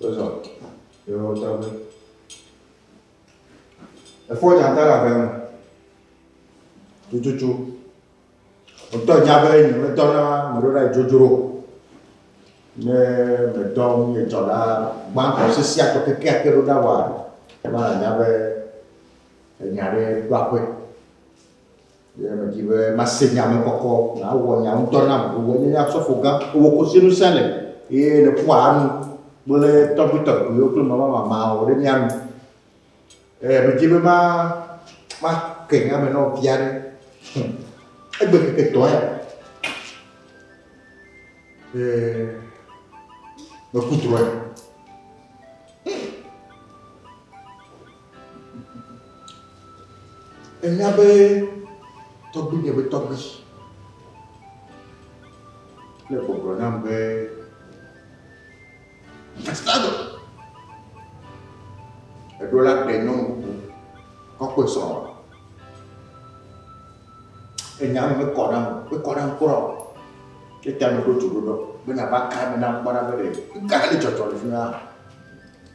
Wozɔ le wo tɔgbe. Efɔ dzata le abe me. Tututu. Wotɔ nya be nye metɔ na meɖo ɖa dzodzro. Ne metɔ nye tɔ la gbãtɔ sisi atɔ keke ake ɖo ɖa wa. Ema nya be enya ɖe ɖo aƒe. Ye medi be mase nya me kɔkɔ, nàwɔ nya ŋutɔ nam. Wò enye nye asɔfo gã, wò kosi nu sẽ le, eye nèƒoa nu kple tɔgbuitɔgbuiwo kple mamamamawo ɖe mía nu. Ye medi be ma make nya me na wò vi aɖe. Hm. Egbe keke etɔ̃ ya. Ye meku drɔe. Ènya be tɔgbinye ƒe tɔgbi le gbɔgblɔ nam be Atitado, èɖo la ɖe nyɔnu bubu kɔkɔe srɔ̃ wa. Ènya me mekɔ nam, mekɔ nam kura o. Etia meɖo dzoɖoɖɔ be nava ka me nam kpɔna be ɖe nu ka ne dzɔdzɔ le fi ma.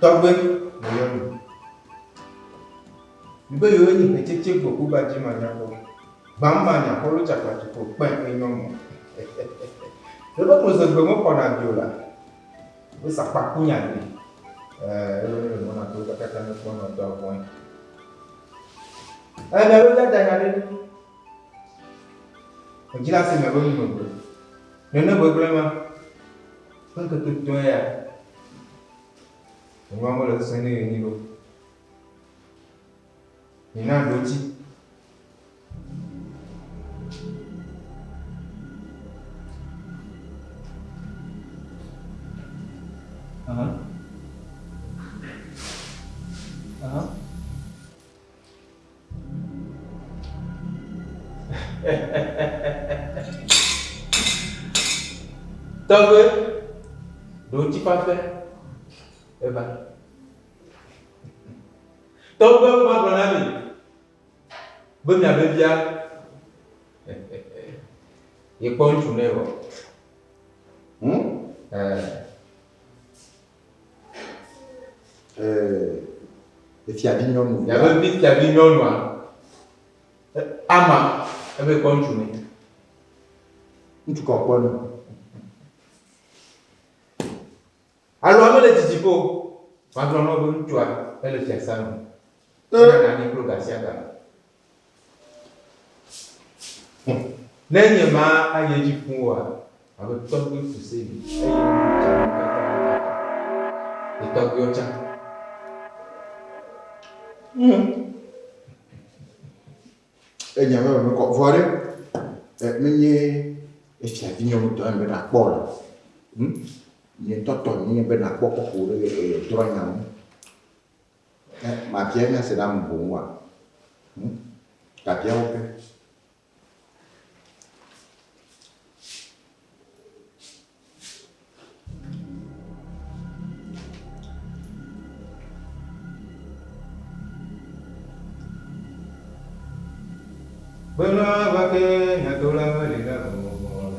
Tɔgbe nɔyɔ nu. Mibe yewo nye ƒe tsetse gbɔ kuba dzi manyakpɔ. Gbamma nya kɔlu cakpatu ko kpɛ enyɔ mɔ. Ɖebe koze gbe me kɔna bio la. Be sakpa ku nya de. Eh, ebe ne le mɔna to kakata ne kpɔ nɔ dɔ vɔn. Eh, ne lo dada nya de. Ejila se me be nu me gbe. Ne ne gbegble ma. Kan ke to to ya. Nyɔ mo le sene ni lo. Mina ɖo dzi. Aha. Aha. Tɔgbe, ɖo dzi fafe. Eva. Tɔgbuiwo hã gblɔ na mi be miabe via yekpɔ ŋutsu nɛ wɔ. Hmm? Eh. Eh, fiavi nyɔnu. Miabe vi fiavi nyɔnua. Ama ebe kpɔ ŋutsu nɛ. Ŋutsu kɔkpɔ nɔ. Alo ame le didi ƒe o. Magblɔ na wò be ŋutsua ele fiasã me. Ena nanyi kplo gasiaga. Ne nye ma ayi edzi fũ oa, abe tɔgbui fu se mi, eye nu wu dze mi katã ƒe tata. Etɔgbuiwo tsã. Enya me me kɔ vɔ ɖe. Menye efiavi nyɔnutɔ ame ɖe akpɔ o. Nye tɔtɔ nye be nàkpɔ kɔkɔ ɖe ye drɔ̃nya ŋu. Ẽ, mabia nya si ɖe ame boŋ oa? Hm, gabia wo ke. Kpena va ke nyadolae meli ɖe ŋuwò o.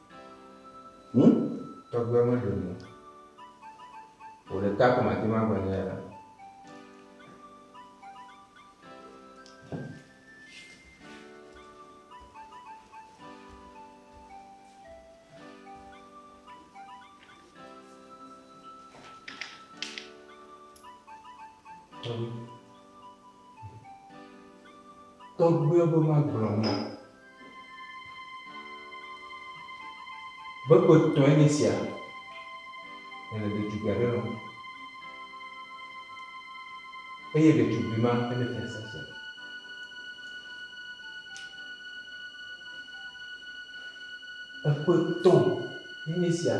Hm? Tɔgbuia me ɖo nu o le ta ko ma te ma gbe ne ya. Tɔgbuia be ma gblɔ nu o. Bebetɔe nye esia, nèle ɖetugbui aɖe lɔ̃m, eye ɖetugbui ma enye fiasã sia. Eƒe tɔ enye esia,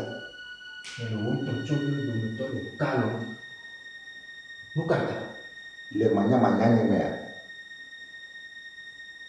nèle wò ŋutɔ tsɔ ƒe dometɔ ɖeka lɔ̃m. Nu ka ta? Le manyamanya nye mea?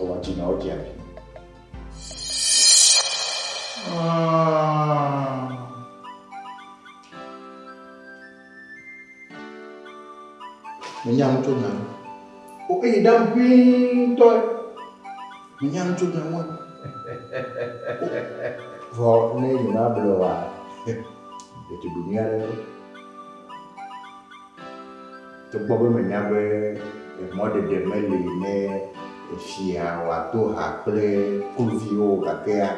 Ewa dzi na wodze abi. Menya nu tso nya nu. O eyi ɖa ŋuitɔ. Menya nu tso nya nu. Vɔ ne yi ma blɔ wa. Ɖetugbi nyui aɖe. Togbɔ be menya be mɔɖeɖe meli ne fia wòado ha kple kluviwo o, gakea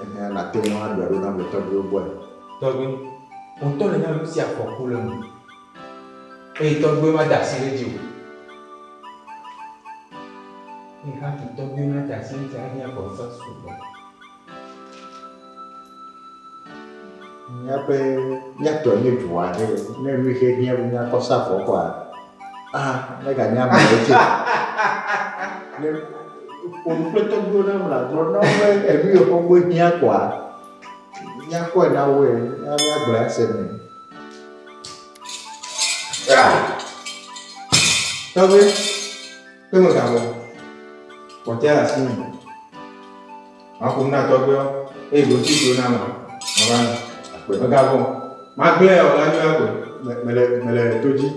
ehe nàte ŋu aɖɔe ɖo nam le tɔgbuiwo gbɔe. Tɔgbui, wò tɔ nènya be nusia afɔku le eme eye tɔgbuiwo made asi ɖe edzi o. Eye hafi tɔgbuiwo nade asi ɖe edzi la, ade nye afɔ sesẽ sugbɔ. Míaƒe, míatɔe nye du aɖe. Ne nu xe hiã be míakɔ sa vɔ kɔa, ah, meganye amewo tse. Ne ƒo nu kple tɔgbuiwo na mla gblɔ na wo be enu yi xɔ gbɔ hiã kɔa, míakɔe na woe, ya míagblɔ ase nɛ. Ah, tɔgbe. Kpe megavɔ o, kpɔtɔea le asinye. Maƒo nu na tɔgbuiawo, eye ɖoŋti si wona la, mava na. Kpe megavɔ o, magblẽ ya wòla yɔa gbe. Me, mele, mele to dzi.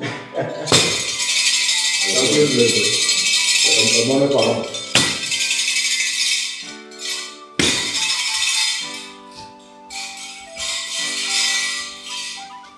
Tɔgbui nu le gbe. Em- Emɔ mekɔ alɔ me.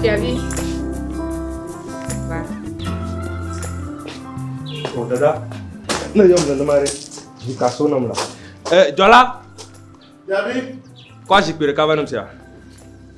Fiavi, va. O oh, dada, ne yɔm nenema ɖe, vi ka so nam la. Ɛ, eh, dzɔla. Fiavi. Kɔ zikpui ɖeka va nam sia.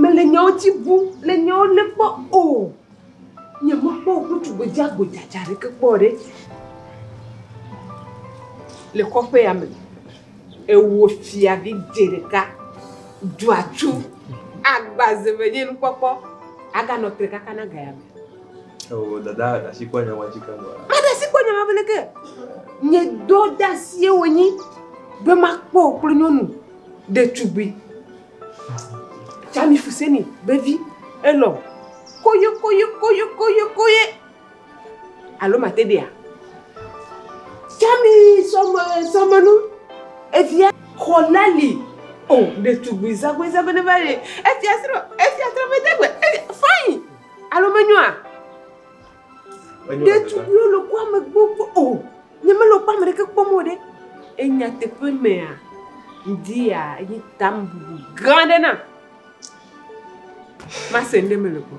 Mele nyawo dzi bu, le nyawo le kpɔ o. Nye me kpɔ ŋutsu gbedza gbedza dza ɖe ke kpɔ ɖe. Le kɔƒe ya me, ewo fia vi dze ɖeka, ɖu atsu, agba ze me nye nu kpɔkpɔ, aga nɔ tre kaka na ga ya me. Oh, dada ɖe asi kpɔ nyama dzi keŋ. Meɖe asi kpɔ nyama bene ke. Nye dɔ de asie wònyi be makpɔ wò kple nyɔnu ɖetugbui. Jami Fuseni vevi elɔ koye koye koye koye koye. Alo mate ɖea? Jami sɔme sɔmenu evia xɔlali. Oh, ɖetugbui zagbe zagbe ne va ye. Efia srɔ̃, efia trɔmedegbe, fine. Alo menyoa? Ɖetugbiwo le kua me gbogbo o. Oh, nyemele kua me ɖeke kpɔm o ɖe. Enya teƒe mea, ŋdia yi tam bubu gã ɖe na. Mase ŋɖe mele gbɔ.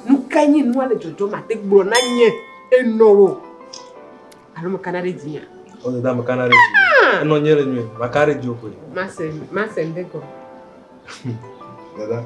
Nu ka nye nua le dzɔdzɔ ma te gblɔ na nye enɔ wo. Alo me kana ɖe dzia? O oh, da me kana ɖe dzia. Ah! Enɔ nye le nyuie, ma kana ɖe dzio koe. Mase, mase ŋɖe gɔ. Dada.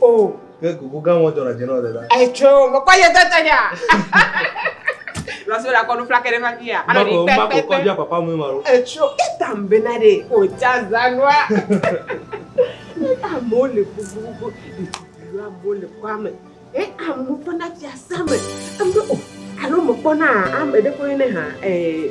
O. Ke kuku gã mɔ dɔna dzenɔ le la. Etso mekɔ ye tete ya. Lɔsɔ la kɔ nu flake ɖe fafi ya. Ano di pɛ pɛ pɛ. Mbakɔ papa mu ma lo. Etso eta mbena de o tsa zanua. Amewo le gbogbogbogbo ɖetugbui la bo le kɔa me e amewo ƒe na fiase me ame o alo mekpɔna ame ɖe ƒe ne ha ee.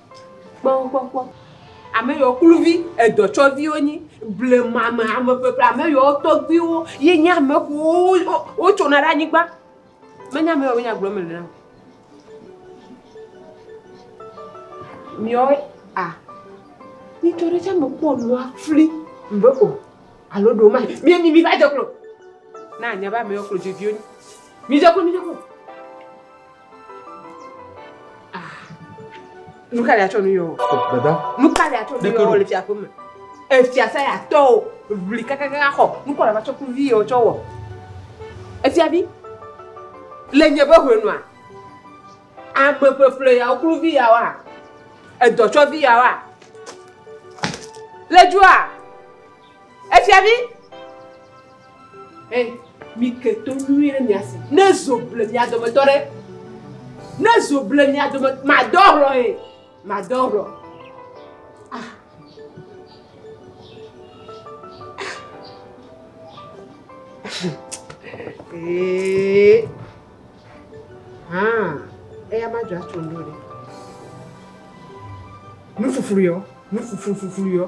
Kpɔ wo gbɔ kpɔ. Ame yawo kluvi edɔtsɔviwo nyi. Blema me ame ƒeƒle ame yawo tɔgbuiwo ye nye ame ƒewo wotsona ɖe anyigba. Menye ame yawo be nya gblɔm mele na o. Miawo a nyitsɔ ɖe tsɛ mekpɔ nua fli be o alo ɖewo ma mie mi mi va dze klo. Na anya be ame yawo klo dzeviwo nyi. Mi dze klo mi dze klo. Nu ka ɖi atsɔ nu yɔ? Dada. Nu ka ɖi atsɔ nu yɔ le fiaƒe me? Efia sa ya tɔ o, ʋli kakaka xɔ, nu kɔ ɖe va tsɔ ku vi yɔ tsɔ wɔ. Efia vi, le nye be hwe nua, ame ƒeƒle ya woklu vi ya wa, edɔ tsɔ vi ya wa. Le dua, efia vi. Ɛ, mi ke to nyuie ɖe mia si. Ne zo ble mia dometɔ ɖe, ne zo ble mia dome, madɔ hlɔ ɛ, madɔ hlɔ. Ah. Ee. Ah, eya ma dzɔ atso ndo ɖe. Nu fuflu yɔ, nu fuflu fuflu yɔ.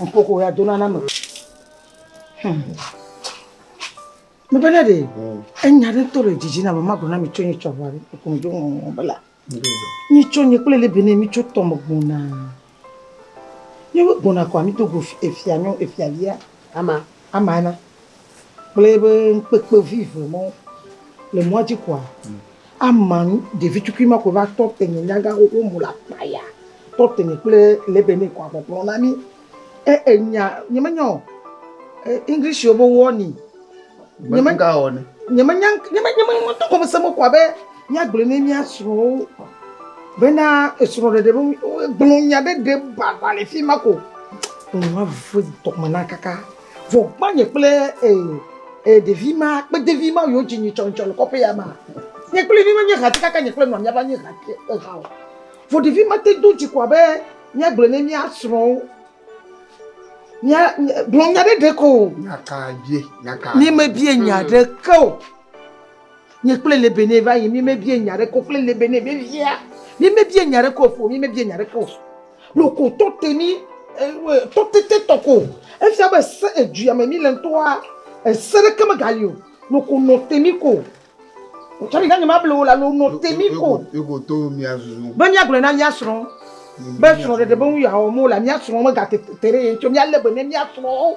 Nkoko ya dona na me. Hmm. Mebe ne de enya ɖe to le dzidzi na me ma gona mi tso nyi tsɔva ɖe ko mi do ŋɔŋɔ bela. Nyi tso nyi kple le bene mi tso tɔ me gbona. Nyi gbona ko mi to go efia nyo efia lia. Ama. Ama na. kple eƒe ŋukpekpevi eve mɔ le mɔa dzi koa, ama ɖevi tukui ma ko va tɔ te nye nyaga xoxo mu le akpaya, tɔ te nye kple le be ne koa kpɔkplɔ na mi. E enya nye me nya o. English yo be warning. Nye me ga o ne. Nye me nya nye me nye me nye me to kɔme se me koa be mía gblɔ ne mía srɔ̃wo be na esrɔ̃ ɖeɖe be gblɔ nya ɖe ɖe baba le fi ma ko. Ŋu ma vɔe tɔme na kaka. Vɔ gbanye kple e, e ɖevi ma kpe devi ma yo dzi nyi tsɔ ntsɔ le kɔƒe ya ma. Nye kple mi menye hati kaka nye kple nɔa miava nye hati eha o. Vɔ ɖevi ma te do dzi ko abe mia gblɔ ne mia srɔ̃ wo. Mia gblɔ nya ɖe ɖe ko. Nya ka bie? Nya ka? Mi me bie nya ɖe ke o. Nye kple Lebene va yi, mímebie nya aɖeke o. Kple Lebene vevia, mímebie nya aɖeke o. Ƒo, mímebie nya aɖeke o. Loko tɔte mí, e, tɔtete tɔ ko. Efia be se edua me míle ŋutɔa, ese aɖeke megali o. Loko nɔ te mí ko. Tsɔ ɖi na nye mable wò la, lo nɔ te mí ko. Eko to mía susu. Be míagblɔe na mía srɔ̃ be srɔ̃ɖeɖe be nu yeawɔ mele la, mía srɔ̃ megate te ɖe ye ŋuti o. Míalé be ne mía srɔ̃.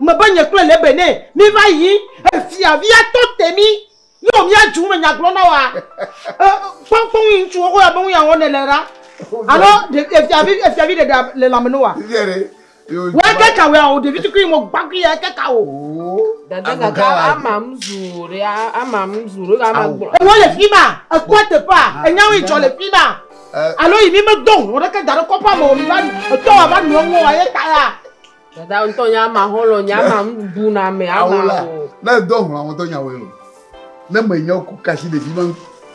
Mebe nye kple Lebe nɛ míva yi fiavia tɔ te mí yɔ mía dzu me nya gblɔ na woa. Kpɔnkpɔn ŋui ŋutsuwo ko ya be ŋui awɔ ne le ɖa. Alo fiavi fiavi ɖe ɖa le lãme no wa. Wa ke ka wea o ɖevi tukui mo gbagui ya ke ka o. Dada dada ama mzu ɖe ama mzu ɖe ama gblɔ. Ewo le fi ma ekpɔ teƒea enyawo yi dzɔ le fi ma. Alo yi mi me do ho ɖe ke da ɖe kɔpa mo mi va etɔ wa va nua ŋua ye ta ya. Dada ŋutɔ nye ama xɔlɔ nye ama bu na me ama o. Ne do hlɔ ŋutɔ nya wɔe lo. Ne me nya ku kasi ɖevi ma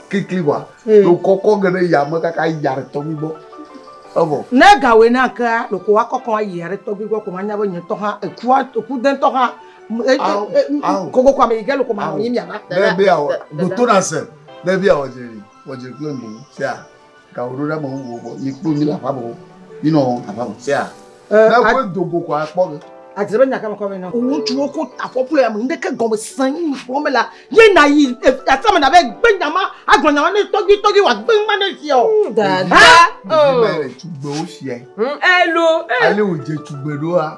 klikli wa. Hmm. Do kɔkɔ ge ɖe ya me kaka ya ɖe tɔgbi gbɔ. Evɔ. Ne ga wɔe na ke a ɖoko wa kɔkɔ a ya ɖe tɔgbi gbɔ ko ma nya be nye tɔ ha eku a eku de tɔ ha. E, e, e, Gogo kwa me yi ge lo ko ma nyi mi ava. Ne be ya wɔ do to na se. Ne be ya wɔ je wɔ je kple ndo sia. Gaxoɖoɖeameŋuwo gbɔ, mikpɔ mi le aƒea me o, minɔ aƒea me. Sea? Ne koe do go koa, kpɔ ge. Adzre be nya ka mekɔ vɛ na wò. Ŋutsuwo ko afɔkplɔe ame ŋɖeke gɔme sẽ yi mi xlɔ̃ me la, ye nàyi aƒea me nàvae gbe nya ma, agblɔ nya ma nɛ tɔgbuitɔgbui wòagbe ŋma ne sia o. Dada o. Ɖevimae le tugbewo siae. Elo. Ale wòdze tugbe ɖoa.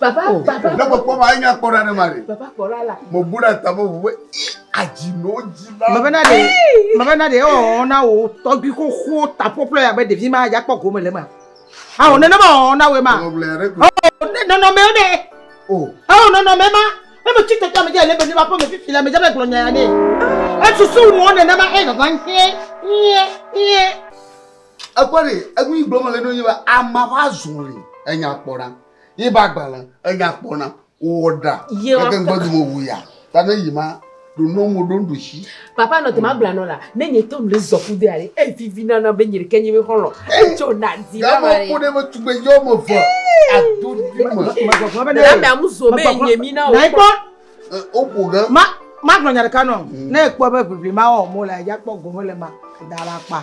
Baba, oh, baba. Ne mekpɔ ma, enya kpɔ ɖa ne ma ɖe. Baba kpɔ ɖa la. Mo bu ɖa ta mo ʋu be adzi no dzi la. Baba na ɖe, baba na ɖe, ɔ na wo tɔgbi xoxo tapɔplɔ ya be ɖevi ma ya kpɔ gome le ma. Awo nene ma ɔ na we ma. Ɔ nɔnɔme ne. O. Ɔ nɔnɔme ma. Ne me tsi tɔtɔ me dze le be ne ma ƒe me fifi la me dze be gblɔ nya ya ne. Esusu wɔn nene ma e zazan hie hie hie. Ekpɔ ɖi enu yi gblɔm mele ɖo nye be ama ƒe azɔli enya kpɔ na ye be agbalẽ enya kpɔ na wowɔ ɖa yeke ŋgbɔ dome wu ya ta ne yi ma ɖo nɔ mo ɖo ŋɖushi. Papa nɔ te ma bla nɔ la ne nye tɔ mle zɔ ku de ale e vivi na na be nye ɖeke nye be xɔlɔ e tso na di la ma le. Gama kode be tugbe yɔ me ve a do di me. La me amu zo be nye mi na o. Na ikpɔ. O ko ge. Ma ma gblɔ nya ɖeka nɔ ne ekpɔ be vivi ma wɔ mo la ya kpɔ gome le ma da la kpa.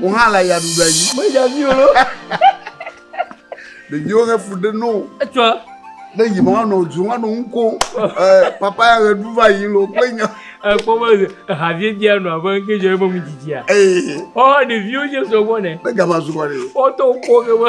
Wò hã le ya ɖuɖa dzi. Me ya vi o. Ɖeviwo he fu ɖe no. Etsɔ. Ne yi ma nɔ dzu ma nɔ ŋu ko. Papa ya ʋe ɖu va yi lo kple nya. Ekpɔ be ehavie bia nɔ abe ŋke dze ebe mu dzidzia. Ɔ ɖeviwo dze sɔ gbɔ ne. Ne gama zu kɔ ɖe. Ɔ tɔ kpɔ ke be.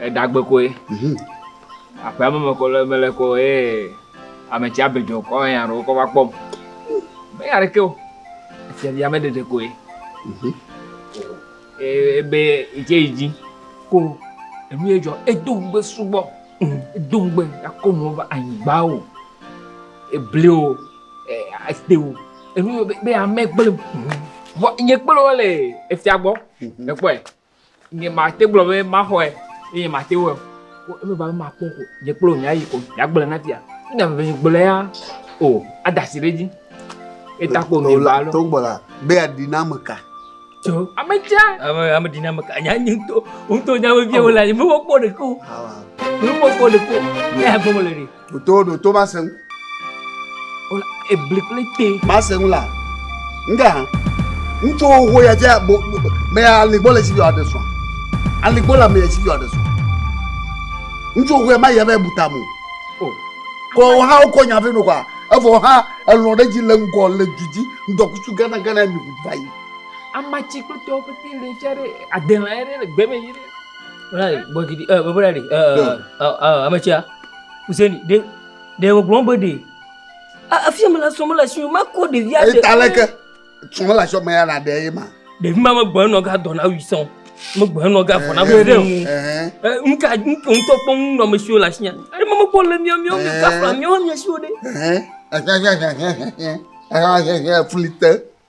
Edagbe koe. Mhm. Aƒea me mekɔ le mele kɔ ye ametsi abedzɔ kɔ eye aɖewo kɔ va kpɔm. Meya ɖeke o. Efiavi ame ɖeɖe koe. Mhm. Ee, Ebe itse yi dzi. Ko enu ye dzɔ edo ŋugbe sugbɔ. Mhm. Edo ŋugbe akɔ nuwo va anyigba o. Ebli o. Ete o. Enu ye be ame gblẽ. Mhm. Vɔ nye kple wo le efia gbɔ. Mhm. Ekpɔe. Nye mate gblɔ be maxɔe eye mate wɔe. Eme ba be makpɔ ko. Nye kple wò míayi ko yeagblɔe na fia. Ne ame eve gblɔe ya o ada asi ɖe edzi. Eta ko nye ba lɔ. To gbɔ la be aɖi na ame ka. Tso ame tsia. Ame ame ɖi na ame ka. Nya nye ŋutɔ ŋutɔ nya me vie wò la. Ame wɔ kpɔ ɖeke o. Ame wɔ kpɔ ɖeke o. Ne agbe me le ɖe. ɖoto ɖoto ma se ŋu. wòle ebli kple te. ma se ŋu la ŋgɛ hã ŋutsu xoxo ya dze bo mɛ aligbɔ le si yɔ aɖe sɔn aligbɔ le mɛ si yɔ aɖe sɔn ŋutsu xoxo ya ma yɛ bɛ buta mo kɔ o hã wokɔ nya fɛ no kɔa evɔ hã elɔ ɖe dzi le ŋgɔ le du dzi ŋdɔkutsu gana gana mi ŋu va yi. amatsi kple tɔwo pete le tsa ɖe adelã yɛ ɖe le gbɛ mɛ yi ɖe. Bɔbɔ ɖe ɖe, ametsia. Huseni, ɖe ɖe wògblɔ be ɖe afia mele srɔ̃ mele asi ma kɔ ɖevia ɖe. Eta leke srɔ̃ mele asi me ya na ɖe ye ma. Ɖevi ma megbe enɔ ga dɔ na wi sɔn megbe enɔ ga vɔ na wi ɖe ŋu. Nu ka ŋutɔ kpɔ ŋu nɔ mesiwo le asinya. Ɖe ma mekpɔ le miɔ miɔ mi gafla miɔ miasiwo ɖe. Fli te.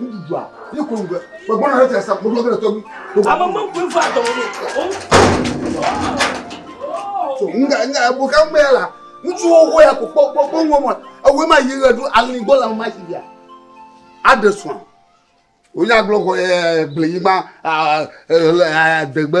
Ŋuɖuɖua, ne kò ŋgbe, kò gbɔna ɖe tɛsa, kò gbɔna ɖe tɔgbi. Ame mɔ kò ŋgbe atɔ wò. So, ŋga, ŋga, ebo ka ŋgbe ya la, ŋutsu wo wo ya kò kpɔ kpɔ kpɔ ŋgbe mɔ, ewe ma yi ɣe ɖo ali gbɔ la ma yi ya. Aɖe sɔa, wò nya gblɔ kɔ ɛɛ gble yi ma ɛɛ ɛɛ ɛɛ degbe.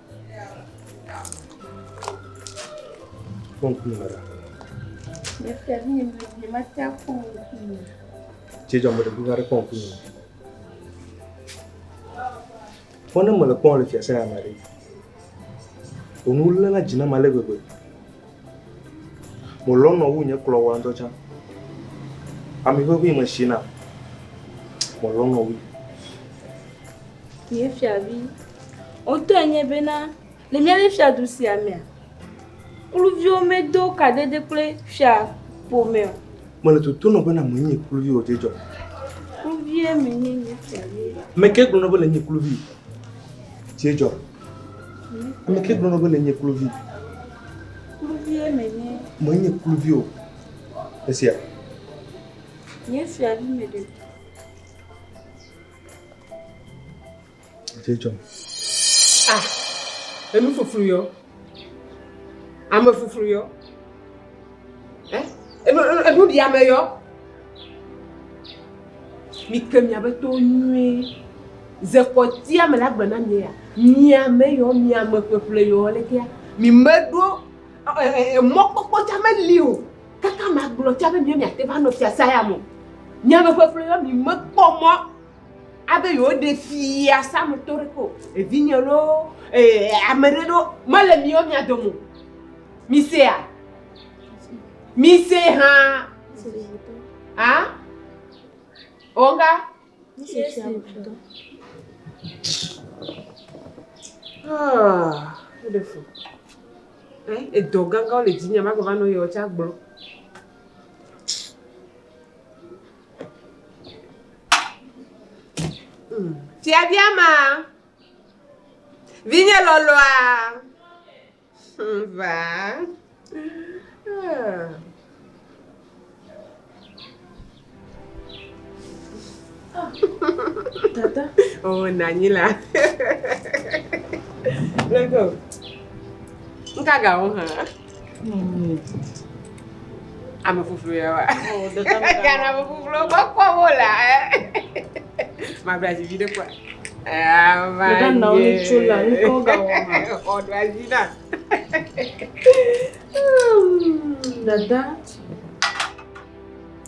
Cɛ jɔ mele buga ɖe kpɔm kunu. Fɔ ne mele kpɔm le fiase ya me ɖe. Onu le na dzi na ma le gbegbe. Melɔ̃ nɔ wu nye kplɔ wa ŋutɔ tsã. Ami ʋeʋĩ me shi nam. Melɔ̃ nɔ wui. Nye fiavi, wotɔe nye bena le mía ɖe fiadu sia mea, kluviwo medo kadede kple fia ƒome o. Mele toto nɔ bena menye kluvi o dzedzɔ. Kluvie menye nye fiavi. Ame ke gblɔ nɔ bena nye kluvi dzedzɔ. Ame ke gblɔ nɔ bena nye kluvi. Kluvie menye. Menye kluvi o. Esia. Nye fiavi me ɖe. Dze dzɔm. Ah, enu fuflu yɔ. Ame fuflu yɔ. Eh, enu enu ɖi ame yɔ. Mike miabe towo nyuie. Ze kpɔtɛa mele agbe na mi ya? Miame yɔ, miame ƒeƒle yɔ lekea? Mi meɖo mɔkpɔkpɔ tsa meli o. Kaka magblɔ tsa be miawo miate va nɔ fiasã ya me o. Miame ƒeƒle yɔ, mi mekpɔ mɔ abe yewoɖe fiasã me tɔ ɖeke o. Evinye loo, ame ɖe loo, mele miawo mia dome o. Misea? Mise hã. A? Onga? Ah, eɖe fo. Eh, edɔ gãgãwo le dzinye, magbe va nɔ yewo tsa gblɔ. Fiaviama, hmm. vinye lɔlɔa. Ŋvaa. Tata. Oh, Nanila. Let's go. Nka ga wo hã. Hmm. Ame fufu ya wa. Oh, dada. Kana fufu lo gbɔ kpɔ wo la. Eh. Ma bla ji vi de kwa. Ava nye. Ɖeka nɔ nu tso la, nu kɔ ga wɔ ma. Xɔ ɖo adzi na. Dada.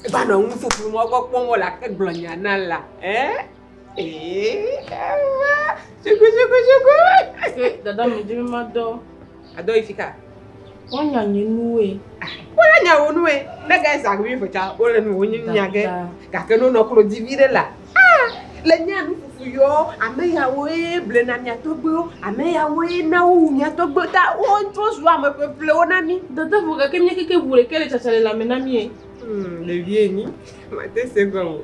Eva nɔ nu fufu mɔ gbɔ kpɔm wɔ la ke gblɔ nya na la. Eh? Eh, ava. Suku suku suku. Dada mi dzi mi ma dɔ. Adɔ yi fika. Wọ́n nya nye nuwe. Wọ́n nya wò nuwe. Ne gɛ zã wi vɔtsa wole nu wonyi nya gɛ. Gake no nɔ klo di vi ɖe la. Ah! Le nya nu fufu yɔ ame yawo ye ble na mia tɔgbe wo. Ame yawo ye na wo wu mia tɔgbe ta. Wo tso zu ame ƒe ƒle wo na mi. Dada vɔ gake nye keke wu ɖeke le tsatsa le la me na mi. Hmm, le vie ni. Ma te se gɔ wo.